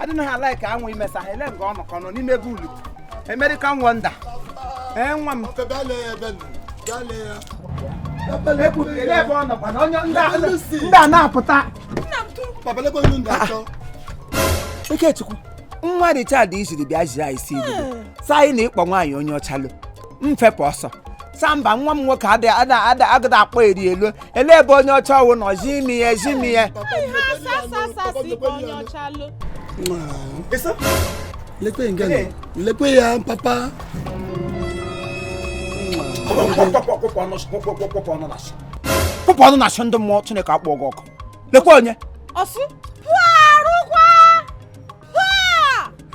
adịna ha ala ka anwụ imesa ha ele nga ọ nọkọ nọ n'ime ebe ulu American wonder ee nwa m ndị a na-apụta Ikechukwu nwa Richard isiri bịa jiri anyị si ilu hmm. sị anyị na ịkpọ nwaanyị onye ọcha lọ mfepụ ọsọ samba nwa m nwoke agada akpọ eri elu ele ebe onye ọcha ọ wụ nọ zi imi ya ezi imi ya lekwe nga nọ lekwe ya papa pụpụ ọnụ na-asị ndị mmụọ chineke akpọ gị ọkụ lekwa onye ọsụ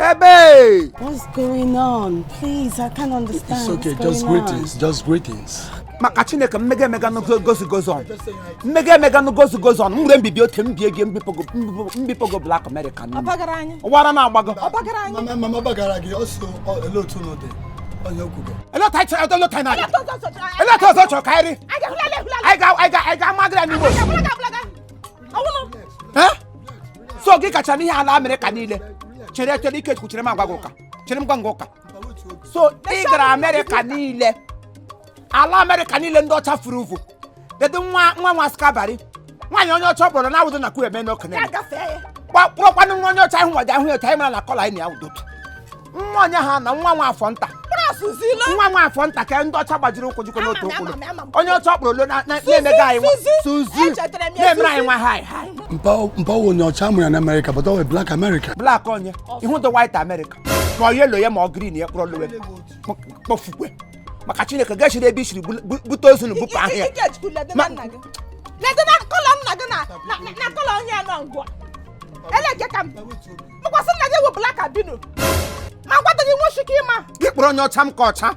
Ebe! What's going on? Please, I can't understand. It's okay, just greetings, on? just greetings. maka chineke mmega emega goes goes on mmega emega goes goes on mgbe mbibi oke mbie gị mbipogo black america wara na agbago eleta ọzọ chọrọ ka anyị ga-amagara n'igbo so gị kacha n'ihe ala amerịka niile chere chere ikechukwu chere m agwa gị ụka chere m gwa gị ụka so ị gara amerịka niile ala amerịka niile ndị ọcha furu uvu dedo nwa nwa nwa skabari nwaanyị onye ọcha ọ bụrụ na awụdo na kwu eme n'okenye ya gafee ya kpọkwanụ nwa onye ọcha ahụ nwa ji ahụ ya otu anyị mara na colour anyị na ya awụdụ otu nwa onye ha na nwa nwa afọ nta nwa nwa afọ nta ka ndị ọcha gbajiri ụkwụ jikọ n'otu ụkwụ onye ọcha kpọrọ lọ na-emega anyị nwa suzi na-emere anyị nwa hi hi mpa ọ wụ onye ọcha mụrụ na amerịka but ọ black america black onye ịhụdụ white america ma ọ yellow ya ma ọ green ya kpọrọ lọwe kpọfukwe maka chineke gachiri ebe isiri bute ozu na bupụ ahụ ya na colour nna gị na colour onye nọ ngwa eleke ka m tụkwasị nna gị wụ black albino ma gwata gị nweshi ike ịma gị kpọrọ onye ọcha m ka ọcha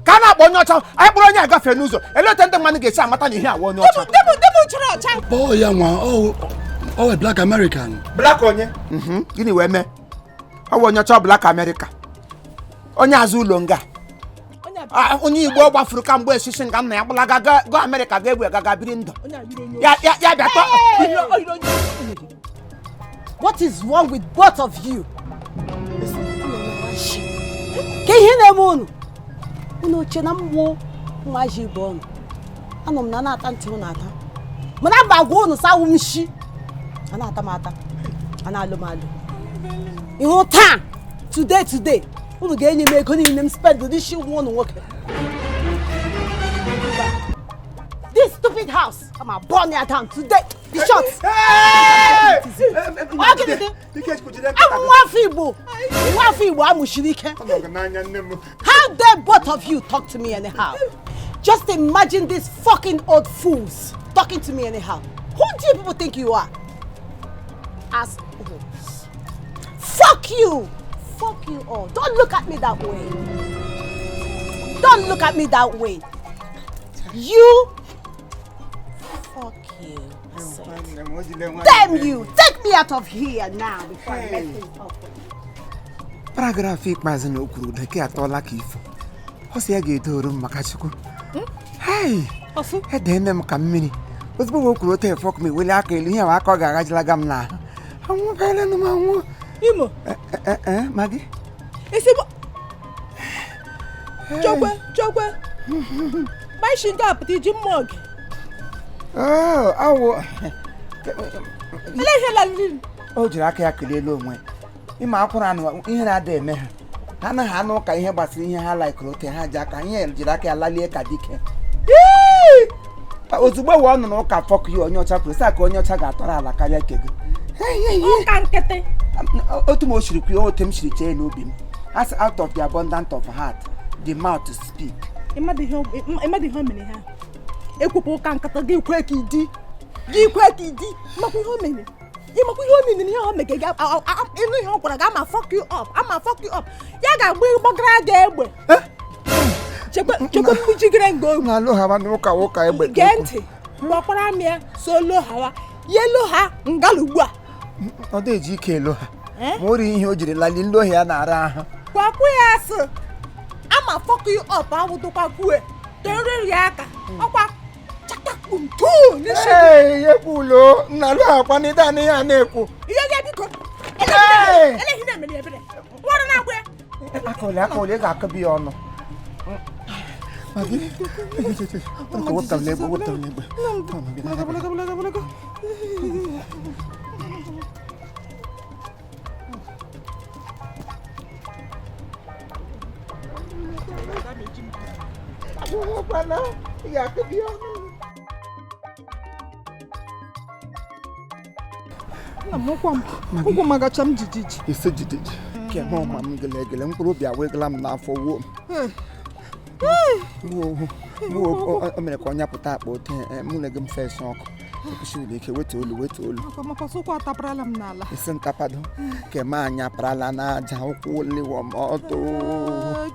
ka a na-akpọ onye ọcha anyị kpọrọ onye agafe n'ụzọ ele otu ndị mmadụ ga-esi amata na ihe a wụ onye ọcha debụ debụ chọrọ ọcha kpọọ ya nwa ọ wụ black american black onye mhm, gịnị wee mee ọ wụ onye ọcha black america onye azụ ụlọ nga onye a- Ah, onye igbo ọ gbafuru kamgbe esisi nga nna ya gbalaga ga- ga amerịka ga ebe gaga biri ndụ onye a yiri onye ya ya ya bịa tọ oyiri oyiri onye What is wrong with both of you? Kee ihe na-eme unu? Unu oche na mụ nwa ji bụ ọnụ. Anọ m na na-ata ntị unu ata. Mana mba agwa unu sị awụ m shi. A na-ata m ata. A na-alụ m alụ. Ị hụ taa, today today, unu ga-enye m ego niile m spendịrị n'isi nwa unu nwoke this stupid house I'm a burn it down today the shot I'm afọ Igbo nwa afọ Igbo amụchiri ike how dare both of you talk to me anyhow just imagine these fucking old fools talking to me anyhow who do you people think you are as Fuck you! Fuck you all. Don't look at me that way. Don't look at me that way. You. Fuck you. Damn you! Take me out of here now before I mess things up. paragraf ikpeazụ na o kwuru dị ka atọọla ka ifo ọ sị ya ga-edoro m maka Chukwu hei edeene m ka mmiri ozugbo o kwuru otu fuck m eweli aka elu ihe ahụ aka ọ ga-aghajilaga m n'ahụ anwụbeelenụ m anwụ imo eh, eh, eh, Maggi ezigbo chokwe chokwe maishi nke apụta iji mma oge oh, awụ ele ihe laliri o jiri aka ya kelee elu onwe ịma akwụrụ anụ ihe na-ada eme ha ha anaghị anụ ụka ihe gbasara ihe ha laikụrụ otu ha ji aka ihe jiri aka ya lalie ka dike ozugbo wee ọ nụrụ ụka fuck ya onye ọcha kwuru saa ka onye ọcha ga-atọrọ ala karịa nke gị ụka nkịtị otu m o siri kwuo otu m siri chee n'obi m as out of the abundant of heart the mouth to speak ịmadụ ihe ọ- ịmadụ ihe o mere ha ekwupụ ụka nkata gị kwe ka idi gị kwe ka idi makwa ihe o mere ịmakwa ihe ọ miniri ihe ọ mege gị ịnụ ihe ọ gwara gị I'ma fuck you up I'ma fuck you up ya ga-agba gbagara gị egbe eh? chekwa mkpuchigere nga ohu na-alụ ha n'ụka ụka egbe gee ntị gbakwara m ya so lo hawa ya elo ha ngala ugbu a ọ dị eji ike elo ha eh? ma o ri ihe o jiri lali ndị ohi ya na-ara ahụ gwakwu ya sị I'ma fuck you up awụdụkwa kwue toriri ya aka hmm. ọkwa ekwulo nnalu akwa n'ide n'ihe a na-ekwu akọli akọli ị ga-akọbi ya ọnụ wepụtara n'egbe wepụtara n'egbe Agwụghịkwana ị ga-akụbi ọnụ. Nna m ụkwụ m ụkwụ magacha m jijiji. Isi jijiji. Kemgbe ọ ma m gelegele mkpụrụ obi awegala m n'afọ wuo m. o mere ka ọ nyapụta akpa ote eh, mụ na gị m fesa ọkụ kwụsịrị ike wetu olu wetu olu isi ntapado ke m anyaparala n'aja ụkwụ liwa m ọtụ eh,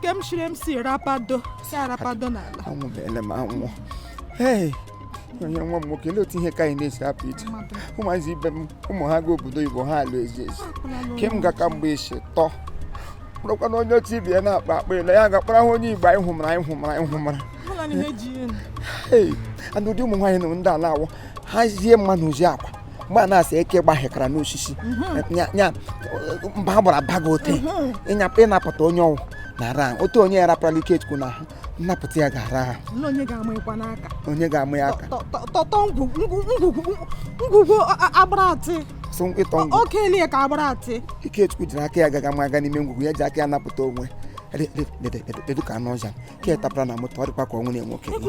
anwụbeela m anwụ onye nwa m nwoke otu ihe ka anyị na-esi apụ iche ụmụazị ibe m ụmụ ha ga obodo Igbo ha alụ ezi ezi ke m gaka mgbe isi tọ bụrụkwa na onye otu ibe ya na-akpa akpa ele ya ga-akpara ha onye Igbo anyị hụmara anyị hụmara anyị hụmara ee ana ụdị ụmụ nwaanyị nụrụ ndị a na-awụ ha zie mma na ozi akwa mgbe a na-asị eke gbahekara n'osisi mhm. ya mba ha gbara baga ote mhm. ịnyapụ ịnapụta onye ọwụ na ran otu onye ya raparala Ikechukwu n'ahụ nnapụta ya ga-ara ahụ Olee onye ga-ama ịkwa n'aka onye ga-ama ya aka tọtọ ngwugwu agbara atị so ịtọ ngwugwu oke eli ya ka agbara atị Ikechukwu jiri aka ya gaga ma aga n'ime ngwugwu ya ji aka ya napụta onwe dedu ka anụ ọja ka ya tapara na moto ọ dịkwa ka ọnwụ na nwoke ọ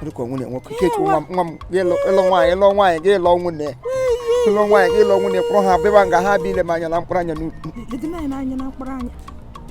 dịka ọnwụ na nwoke Ikechukwu nwa m nwa m ịlụ nwaanyị ịlụ nwaanyị gị ịlụ nwunye ịlụ nwaanyị gị ịlụ nwunye ịkpọrọ ha bịba nga ha bịa ile m anya na mkpụrụ anya n'ukwu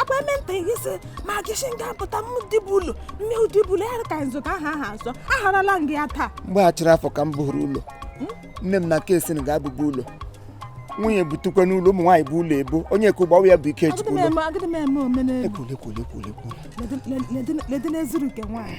akwa eme nta gị sị ma gị si nga pụta m dịbụ ụlọ mme ụdịbụ ụlọ ya ka nzụta aha aha azọ aharala m gị ya taa mgbe a chịrị afọ ka m bụrụ ụlọ nne m na nke esi na ga-abụbu ụlọ nwunye butukwa n'ụlọ ụmụ nwaanyị bụ ụlọ ebo onye ka ụgbawa ya bụ ike agịdị chukwu m ụlọ eme agịdị m eme omenelu ekwule ekwule ekwule ekwule ledị n'ezuru nke nwaanyị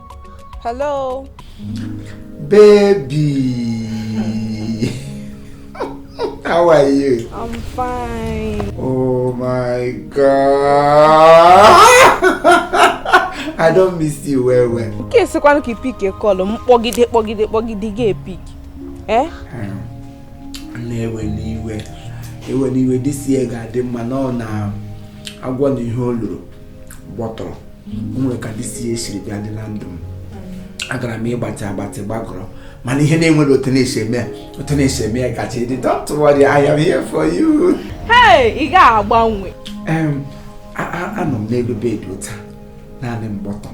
Hello. Baby. How are you? I'm fine. Oh my god. I don miss you well well. Nke sikwanụ ka ị pick call m kpọgide kpọgide kpọgide gị apick. Eh? Hmm. Nna ewena iwe. Ewena iwe this year ga-adị mma na ọ na agwọ na ihe o loro. gbọtọrọ o nwere ka this year siri bịa dị na ndụ m agara m ịgbatị agbatị gbagọrọ mana ihe na-enwere otu na-esi eme otu na-esi eme ya kacha ịdị don't worry I am here for you. Hey, ị ga-agbanwe. anọ m n'elu bed ụta naanị m gba ọtọ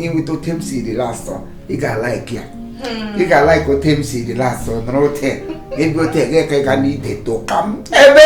inweta otu m si dị lastọ ị ga-alaiki ya hmm. ị ga-alaiki otu m si dị lastọ nọrọ otu ebe otu ga-eke ga n'ide tụka m ebe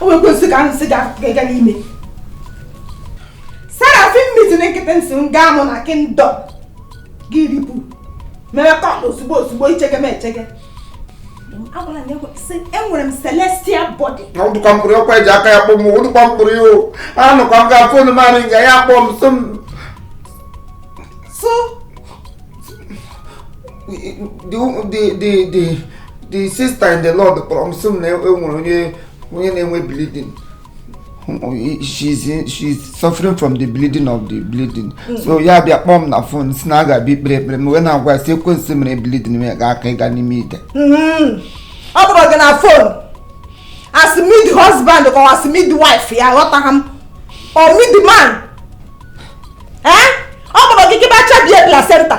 o wee kwesị ka ahụ si ga-aga n'ime Seraphim meeting nkịtị sị m gaa mụ na kingdom group mere call ozugbo ozugbo ichege m echege agwara m ya sị enwere m celestial body ọdụkwa mkpụrụ ọkwa eji aka ya kpọ m ụdụkwa mkpụrụ ya o anụkwa m ga phone mmadụ nga ya kpọ m sị m so the sister in the lord kpọrọ m sị m na enwere onye onye na-enwe bleeding she's in, she's suffering from the bleeding of the bleeding mm. so ya bịa kpọọ m na fon si na a ga-abịa ikpere ekpere m wee na-agwa si ekwensu mere bleeding m ga aka ịga n'ime ite mm-hmm. ọ kpọrọ gị na fon as mid husband or as mid wife ya ghọtara m or mid man eh? ọ kpọrọ gị gị bacha bie placenta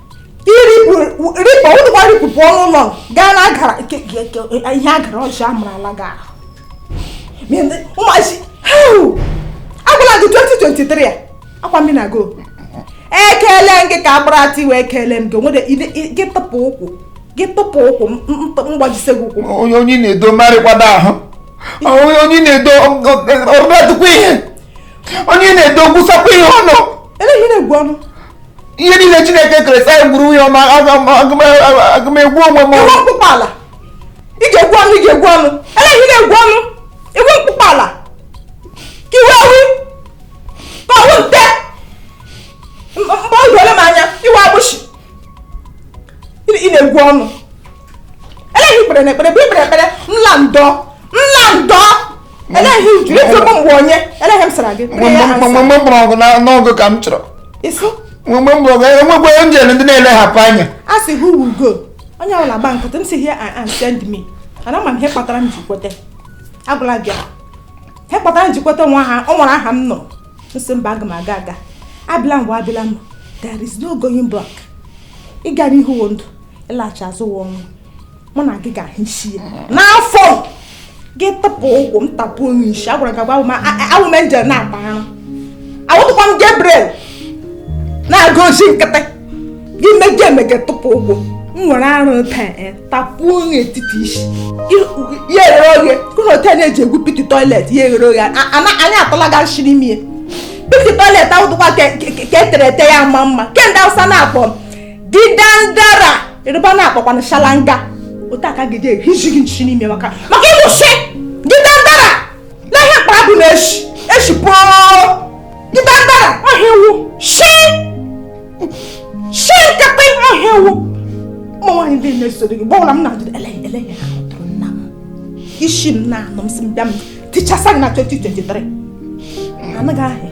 irikpọ ụnụkwa ripụpụ ọnụ ụlọ gaa na agara ihe agara ọjọọ amụrụla gị ahụ ụmụazi agwala m gị 2023 a akwa mmiri na go ekele m gị ka agbara atị wee kelee m gị nwere gị tụpụ ụkwụ gị tụpụ ụkwụ mgbajise gị ụkwụ onye onye na-edo marịkwado ahụ onye onye na-edo ọrụdadụkwa ihe onye na-edo gwụsakwa ihe ọnụ ele ihe na-egwu ọnụ ihe niile chineke kere sị anyị gwuru nwunye ọma aga m egwu onwe m ị wụ mkpụkpọ ala ị ga-egwu ọnụ ị ga-egwu ọnụ ele ihe ị na-egwu ọnụ ị wụ mkpụkpọ ala ka ị wụ ewi ka ọ wụ nte mgbe o dole m anya ị wụ agbụshi ị na-egwu ọnụ ele ihe i kpere na ekpere bụ ikpere ekpere nla ndọ nla ndọ ele ihe ị jụrụ ịjụ m mgbe onye ele ihe m sara gị mgbe mgbe mkpọrọ ọgụ n'ọgụ ka m chọrọ mgbe mgbe mkpọrọ ọgụ enwekwa onye enjel ndị na-elehapụ anya a sị who will go onye ọbụla gba nkịtị m sị here I am send me ana ma m ihe kpatara m ji kweta agwala gị ihe kpatara m ji kweta nwa ha ọ nwere aha m nọ m sị mba aga m aga aga abịala m wụ abịala m there is no going back ịga n'ihu wụ ndụ ịlaghachi azụ wụ ọnwụ mụ na gị ga-ahụ isi ya n'afọ gị tụpụ ụkwụ m tapụ onye isi agwara gị agwa awụ m enjel na-akpa arụ awụtụkwa m Gabriel na-aga ozi nkịtị gị meje emege tụpụ ụkwụ m were arụ taa e, tapụ onye etiti isi ya eghere oghe kụrụ otu a na-eji egwu piti toilet ya eghere oghe anyị atụla gị nshị ime piti toilet awụtụkwa ke e tere ete ya mma mma ke ndị awụsa na-akpọ didandara Yoruba na-akpọkwanụ shalanga otu aka gị ehizi gị nshị n'ime maka maka ị wụ shị didandara na ihe mkpara bụ na-eshi eshi pụọ didandara ọ ihe ị wụ ishi nkapị ọ ihe ị wụ ụmụ nwaanyị ndị na-eso gị gbọwụla m na-ajụ ele ele ya ha tụrụ nna m isi m na-anụ m si m bịa m tichasa gị na 2023 anaghị ahịa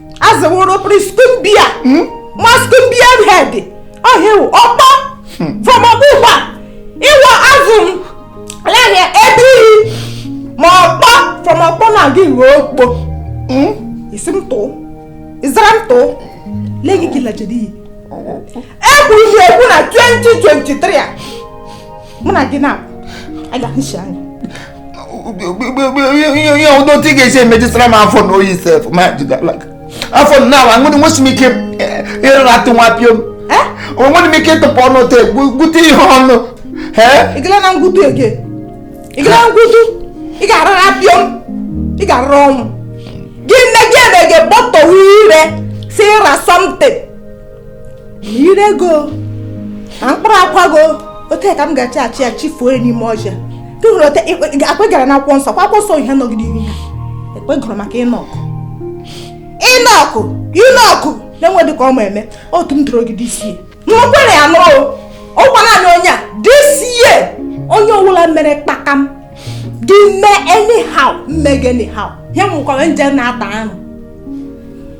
azụworo pri scumbia hmm? ma scumbia head ọhịa ọkpọ hmm. from ọgbụgba ịwa azụ ahịa ebe iyi ma ọkpọ from ọkpọ na gị ruo okpo hmm? isi m tụụ ịzara m tụụ lee gị gị lajere iyi ekwuru m ekwu na 2023 a mụ na gị na-aga nshi anya ihe ụdọ otu ị ga-esi emejisara m afọ na oyi sef ma jidala gị afọ na awa nwere nwesị m ike ịrara ọtụ nwa pịom onwere m ike ịtụpụ ọnụ te gwute ihe ọnụ ịgala na ngwutu ege ịgala na ngwutu ị ga-arara pịom ị ga-arara ọnwụ gị nne gị eme gị bọtọwa ire si ịra something ire go na mkpụrụ akwa go ote ka m ga-achị achị ya chifuo ya n'ime ọja tụhụrụ ote akpegara na akwụkwọ nsọ kwa akwụkwọ nsọ ihe nọgide ihu ha ekpegoro maka Enoch Enoch Enoch na-enwe dị ka ọ ma eme otu m dụrụ ogide isi n'okwere ya nụrụ ọgwa naanị onye a this year onye ọbụla mere kpakam do me anyhow m mee gị anyhow ya mụkwara angel na-ata arụ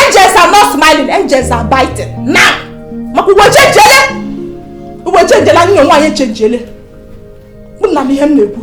angels are not smiling angels are biting na maka ụwa echenjele ụwa echenjele anyị na nwaanyị echenjele unu na-anụ ihe m na-ekwu